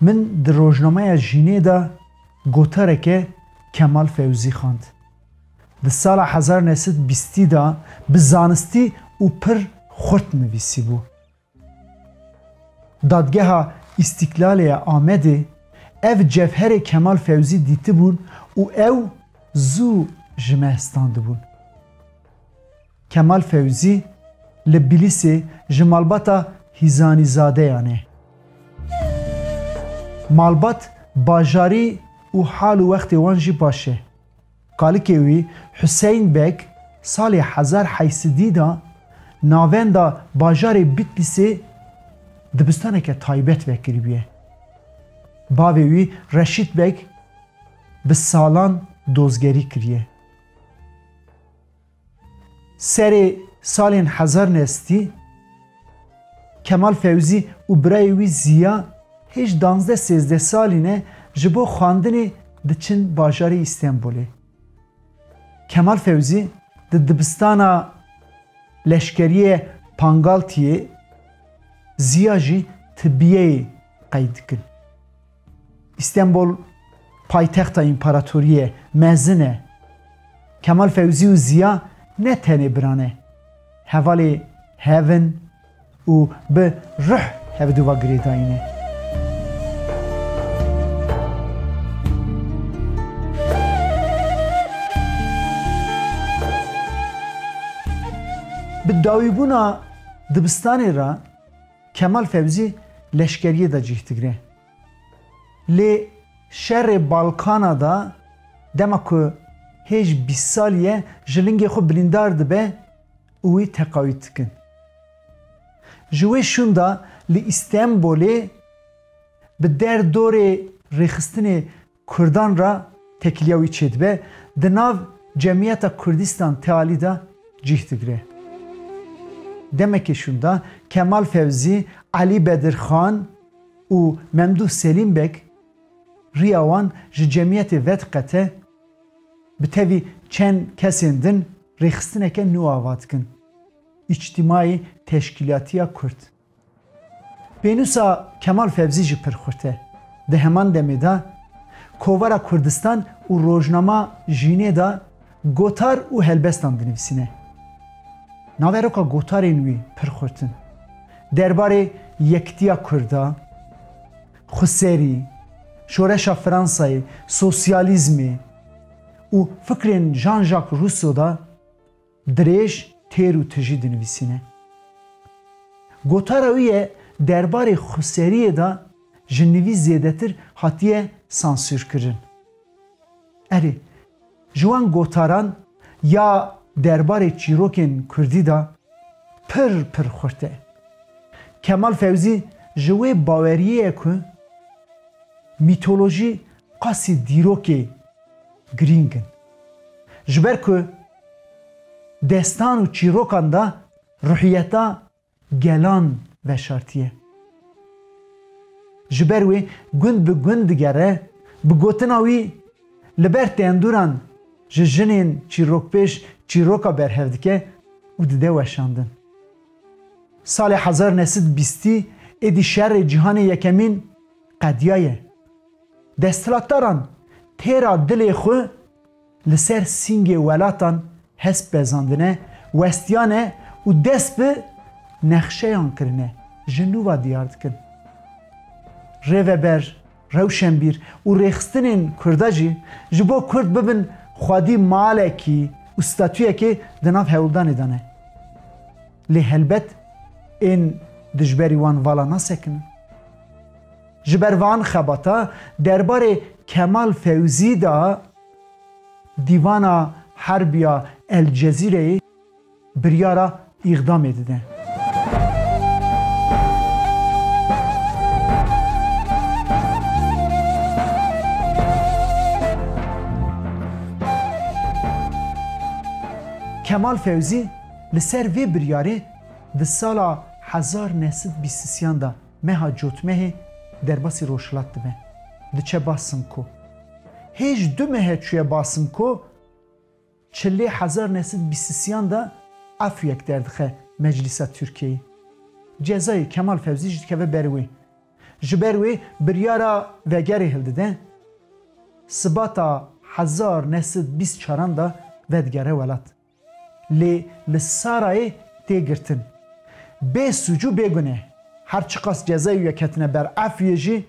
Min di rojnameya Jînê de gotareke Kemal Fewzî xwend. Di sala hezar û neh sed û bîst de bi zanistî û pir xurt nivîsîbû. Dadgeha Îstîklalê ya Amedê ev cevherê Kemal Fewzî dîtibûn û ew zû ji me standibûn. Kemal Fewzî li Bîlîsê ji malbata Hîzanîzadeyan e. Malbat bajarî û hal û wextê wan jî baş e. Kalikê wî Huseyn Beg salê hezar heyî sidî da navenda bajarê Bîtlîsê dibistaneke taybet vekiribûye. Bavê wî Reşît Beg bi salan dozgerî kiriye. Serê salên hezar nestî, Kemal Fewzî û birayê wî Zîya hêj danzdeh sêzdeh salî ne ji bo xwendinê diçin bajarê Îstenbulê. Kemal Fewzî di dibistana leşkeriyê Pangaltiyê, Zîya jî tibiyeyê qey dikin. Îstenbol paytexta împaratoriyê mezin e. Kemal Fewzî û Ziya ne tenê biran e. Hevalê hev in û bi ruh heviduva girêdayî ne. Bi dawîbûna dibistanê re. Kemal Fewzî leşkeriyê de cih digire. Lê şerê Balkana de dema ku hêj bîst salî ye ji lingê xwe bilîndar dibe û wî teqayûd dikin. Ji wê şûnda li Îstenbolê bi der dorê rêxistinê Kurdan re tekiliya wî çêdibe, di nav cemiyeta Kurdistan Tealî de cîh digire. Demekê şûnda Kemal Fewzî, Elî Bedirxan û Memdûh Selîm Beg riya wan ji cemiyetê vediqete, bi tevî çend kesên din rêxistineke nû ava dikin, Îctîmaî Teşkîlatiya Kurd. Pênûsa Kemal Fevzî jî pir xurt e. Di heman demê de Kovara Kurdistan û rojnama Jînê de gotar û helbestan dinivîsîne. Naveroka gotarên wî pir xurt in. Derbarê yekitiya Kurd e, xweserî, şoreşa Fransayê, sosyalîzmê û fikrên Jean-Jacques Rousseau de Dirêj têr û tijî dinivîsîne. Gotara wî ye derbarê xweseriyê de ji nivîs zêdetir hatiye sansûrkirin. Erê, ji wan gotaran ya derbarê çîrokên kurdî de pir pir xurt e. Kemal Fewzî ji wê baweriyê ye ku mîtolojî qasî dîrokê girîng in. Ji ber ku destan û çîrokan de ruhiyeta gelan veşartiye. Ji ber wê gund bi gund digere, bi gotina wî li ber tenduran ji jinên çîrokpêş çîroka berhev dike û dide weşandin. Salê hezar nesîd bîstî êdî şerê cîhanê yekemîn qediyaye. Desthilatdaran têra dilê xwe li ser sîngê welatan hest bezandine, westiyane û dest bi nexşeyan kirine ji nû ve diyar dikin. Rêveber, rewşenbîr û rêxistinên Kurda jî ji bo Kurd bibin xwedî malekî û statuyekê di nav Hewldanê de ne. Lê helbet ên dijberî wan vala nasekinin. Ji ber van xebata derbarê Kemal Fewzî de Dîvana Herbî ya El Cezîreyê biryara îxdamê dide. Kemal Fewzî li ser vê biryarê di sala hezar neh sed bîst sîyan de Meha cotmehê derbasî rojhilat dibe. Diçe ba Simko. Hêj du mehe çûye ba Simko. Çilê hezar neh sed bîst siyan de afûyek derdixe Meclîsa Tirkiyeyê. Cezayê Kemal Fewzî jî dikeve ber wê. Ji ber wê biryara vegerê hildide. Sibata hezar neh sed bîst çaran de vedigere welat. Lê li Sarayê tê girtin. Bê sûc û bê guneh. Her çiqas cezayê wî ketine ber ef wî jî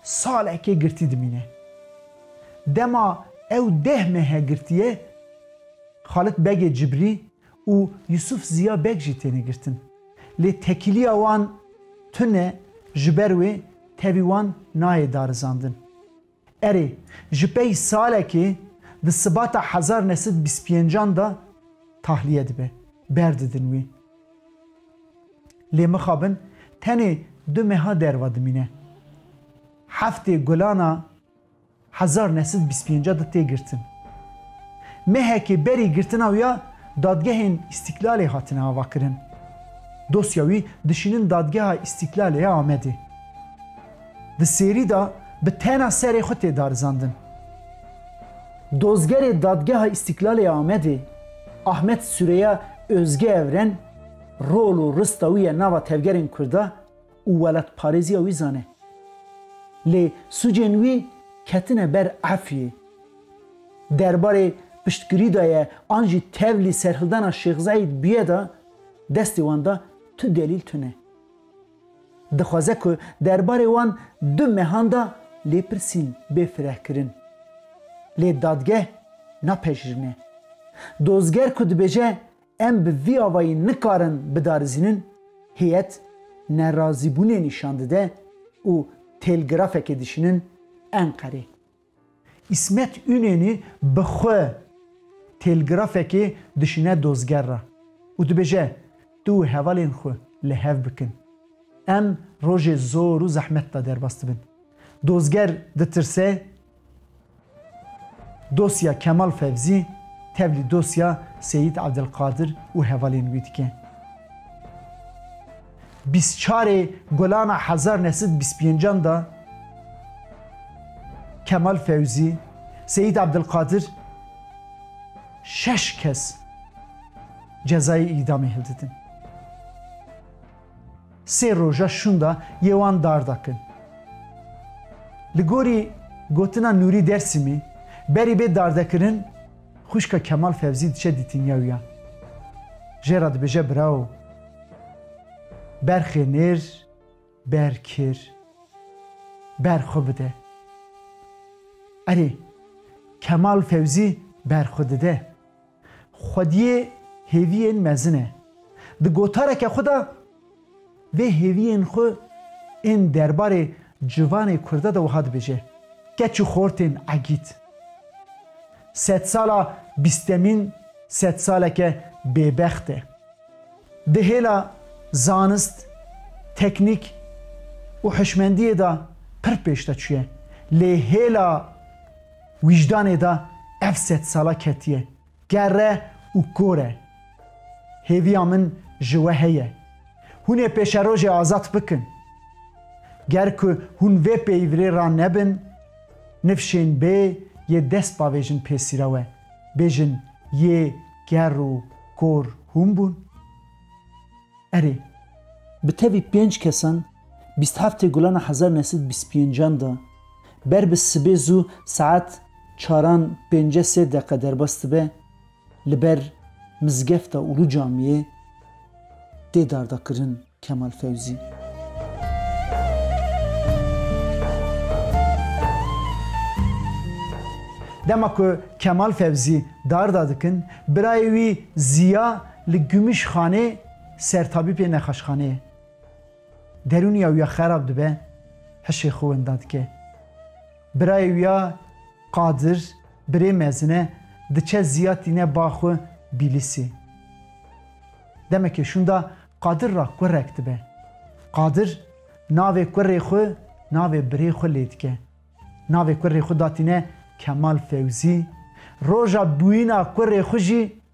salekê girtî dimîne. Dema ew deh mehe girtiye Xalit Begê Cibrî û Yusuf Ziya Beg jî têne girtin. Lê tekîliya wan tune ji ber wê tevî wan nayê darizandin. Erê, ji pey salekê di sibata hezar ne sed bîst pêncan de tahliye dibe, berdidin wê. Lê mixabin tenê du meha derva dimîne. Heftê Gulan a hezar ne sed bîst pêncan de tê girtin. Mehekê berî girtina wî ya Dadgehên Îstîklalê hatine avakirin. Dosya wî dişînin Dadgeha Îstîklalê ya Amedê. Di serî de bi tena serê xwe tê darizandin. Dozgerê Dadgeha Îstîklalê ya Amedê Ahmet Sureya Ozge Evren rol û rista wî ya nava tevgerên Kurda û welatparêziya wî zane. Lê sucên wî ketine ber efyê. Derbarê piştgirî de ye an jî tevlî serhildana Şêx Zeîd bûye de destê wan de tu delîl tune. Dixwaze ku derbarê wan du mehan de lêpirsîn bê firehkirin. Lê dadgeh napejirîne. Dozger ku dibêje em bi vî avayî nikarin bidarizînin, hêyet nerazîbûnê nîşan dide û têlgrafekê dişînin Enqerê. Îsmet Ünenî bi xwe têlgrafekê dişîne dozger re û dibêje, Tu û hevalên xwe li hev bikin. Em rojê zor û zehmet de derbas dibin. Dozger ditirse, dosya Kemal Fevzî tevlî dosya Seyîd Evdilqadir û hevalên wî dike. Bîst çarê Gulana hezar neh sed bîst pêncan de Kemal Fewzî, Seyîd Ebdilqadir şeş kes cezayê îdamê hildidin. Sê roja şûn de yê wan dar dakin. Li gorî gotina Nûrî Dersîmî, berî bê dardekirin, Xwişka Kemal Fevzî diçe dîtînya wî ya. Jê re dibêje Brao. Ber xê nêr, ber kêr. Ber xwe bide. Erê, Kemal Fevzî ber xwe dide. Xwediyê hêviyên mezin e. Di gotareke xwe de. vê hêviyên xwe ên derbarê civanê Kurda de wiha dibêje, Keç û xortên egît. Sedsala bîstemîn sedsaleke bêbext e. Di hêla zanist, teknîk û hişmendiyê de pir pêş de çûye. Lê hêla wîjdanê de ev sedsala ketiye. Kerre û kore. Hêviya min ji we heye. Hûn ê pêşerojê azad bikin. Ger ku hûn vê pêyvrê ra nebin, nifşên bê yê dest bavêjin pê sîrewe, bêjin yê ker û kor hûn bûn? Erê. Bi tevî pênc kesan, bîst heftê gulana hezar nesîd bîst pêncan da. Ber bi sibê zû saet çaran pênce sê deqe derbas dibe li ber Mizgefta Ulu Camiyê tê dardakirin Kemal Fewzî. Dema ku Kemal Fewzî darda dikin, birayê wî Ziya li Gümüşhanê sertabîpê nexaşxaneyê. Derûniya wî ya xerab dibe, hişê xwe wenda dike. Birayê wî ya Qadir, birê mezin e, diçe ziya tîne ba xwe Bîlîsê. Demekê şûnda Qadir ra kurek dibe. Qadir navê kurê xwe navê birê xwe lê dike. Navê kurê xwe da tîne Kemal Fewzî, roja bûyîna kurê xwe jî